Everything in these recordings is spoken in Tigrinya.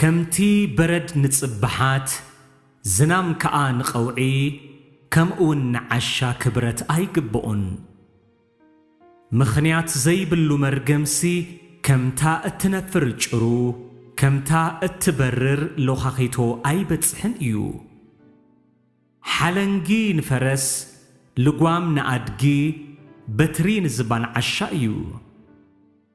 ከምቲ በረድ ንጽብሓት፣ ዝናም ከኣ ንቐውዒ፣ ከምኡውን ንዓሻ ክብረት ኣይግብኦን። ምኽንያት ዘይብሉ መርገምሲ ከምታ እትነፍር ጭሩ፣ ከምታ እትበርር ሎኻኺቶ ኣይበጽሕን እዩ። ሓለንጊ ንፈረስ፣ ልጓም ንኣድጊ፣ በትሪ ንዝባን ዓሻ እዩ።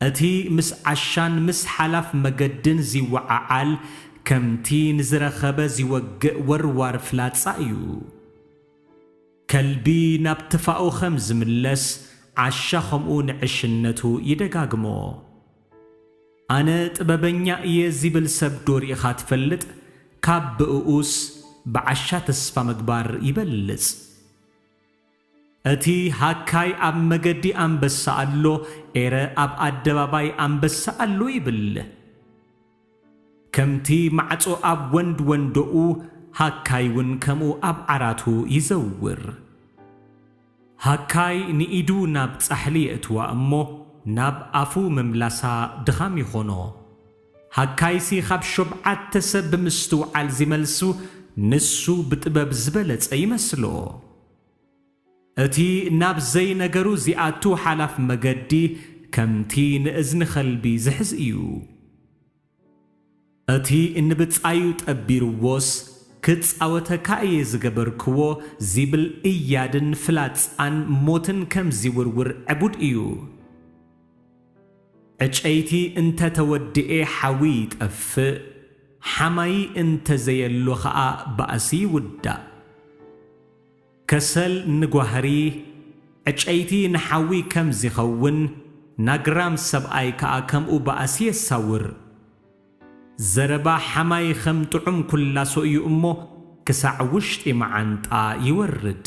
እቲ ምስ ዓሻን ምስ ሓላፍ መገድን ዚወዓዓል፣ ከምቲ ንዝረኸበ ዚወግእ ወርዋር ፍላጻ እዩ። ከልቢ ናብ ትፋኡ ኸም ዚምለስ፣ ዓሻ ኸምኡ ንዕሽነቱ ይደጋግሞ። ኣነ ጥበበኛ እየ ዚብል ሰብዶ ርኢኻ ትፈልጥ? ካብ ብእኡስ፣ ብዓሻ ተስፋ ምግባር ይበልጽ። እቲ ሃካይ ኣብ መገዲ ኣንበሳ ኣሎ ኤረ ኣብ ኣደባባይ ኣንበሳ ኣሎ ይብል። ከምቲ ማዕጾ ኣብ ወንድ ወንዶኡ ሃካይ ውን ከምኡ ኣብ ዓራቱ ይዘውር። ሃካይ ንኢዱ ናብ ጻሕሊ የእትዋ እሞ ናብ ኣፉ ምምላሳ ድኻም ይኾኖ። ሃካይሲ ካብ ሾብዓተ ሰብ ብምስትውዓል ዚመልሱ ንሱ ብጥበብ ዝበለጸ ይመስሎ። እቲ ናብ ዘይነገሩ ዚኣቱ ሓላፍ መገዲ ከምቲ ንእዝኒ ኸልቢ ዚሕዝ እዩ። እቲ ንብጻዩ ጠቢርዎስ፣ ክጻወተካ እየ ዝገበርክዎ ዚብል እያድን ፍላጻን ሞትን ከም ዚውርውር ዕቡድ እዩ። ዕጨይቲ እንተ ተወድኤ ሓዊ ይጠፍእ፣ ሓማዪ እንተ ዘየሎ ኸኣ ባእሲ ይውዳእ። ከሰል ንጓህሪ፣ ዕጨይቲ ንሓዊ ከም ዚኸውን፣ ናግራም ሰብኣይ ከኣ ከምኡ ባእሲ የሳውር። ዘረባ ሓማዪ ኸም ጥዑም ኵላሶ እዩ እሞ፣ ክሳዕ ውሽጢ መዓንጣ ይወርድ።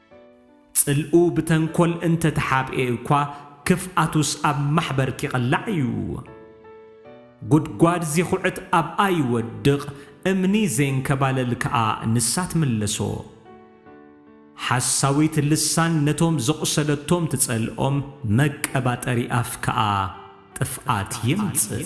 ጽልኡ ብተንኮል እንተ ተሓብኤ እኳ ክፍኣቱስ ኣብ ማሕበር ኪቕላዕ እዩ። ጉድጓድ ዚኹዕት ኣብኣ ይወድቕ፣ እምኒ ዜንከባለል ከኣ ንሳ ትምለሶ። ሓሳዊት ልሳን ነቶም ዘቝሰለቶም ትጸልኦም፣ መቀባጠሪ ኣፍ ከኣ ጥፍኣት የምጽእ።